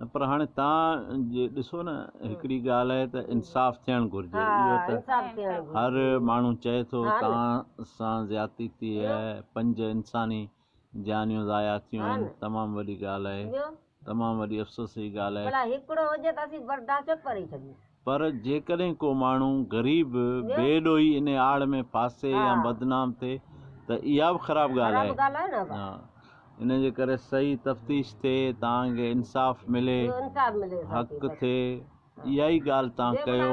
نه پر هاڻي تان جي ڏسو نه هڪڙي ڳالهه آهي ته انصاف ٿيڻ گهرجي اهو ته هر ماڻهو چئي ٿو تان سان زيادتي ٿي آهي پنج انساني جانيون ضايع ٿيون آهن تمام وڏي ڳالهه آهي تمام وڏي افسوس جي ڳالهه آهي پر جيڪڏهن ڪو ماڻهو غريب بي ڏوهي انهي آڙ ۾ ڦاسي يا بدنام ٿئي ته اها به خراب ڳالهه آهي. ان جي ڪري صحيح تفتيش ٿئي تان ڪي انصاف ملي، حق ٿئي، اها ئي ڳالهه تان ڪيو.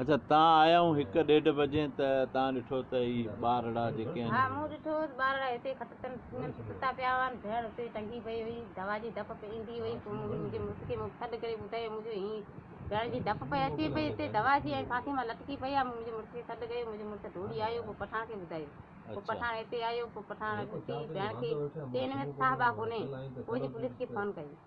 اچا تان آيائون هڪ ڏيڍ بجي ته تان ڏٺو ته هي ٻارڙا جيڪي آهن. ها مون ڏٺو هوس ٻارڙا هتي کٽتن ۾ ستا پيا هئا ۽ ڀيڻ اتي ٽنگي پئي هئي. دوا جي ڌپ پئي ايندي هئي. پوء مون منهنجي مڙس کي مون سڏ ڪري ٻڌايو مون چيو هي ڀيڻ جي ڌپ پئي اچي پئي هتي دوا جي ۽ ڦاسي مان لٽڪي پئي آهي. مون منهنجي مڙس کي سڏ ڪيو. منهنجو مڙس ڊوڙي آيو پوء پٺاڻ کي ٻڌايو. پوء پٺاڻ هتي آيو. پوء پٺاڻ ڏسي ڀيڻ کي چيو هن ۾ ته ساهه باه ڪونهي. پوء جي پوليس کي فون ڪئي.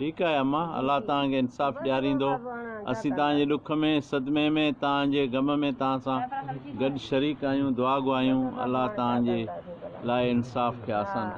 ٺيڪ آهي اما، الله توهان کي انصاف ڏياريندو. اسين توهان جي ڏک ۾، صدمي ۾، توهان جي غم ۾ توهان سان گڏ شريڪ آهيون. دعا گهايون الله توهان جي لاء انصاف کي آسان ڪري.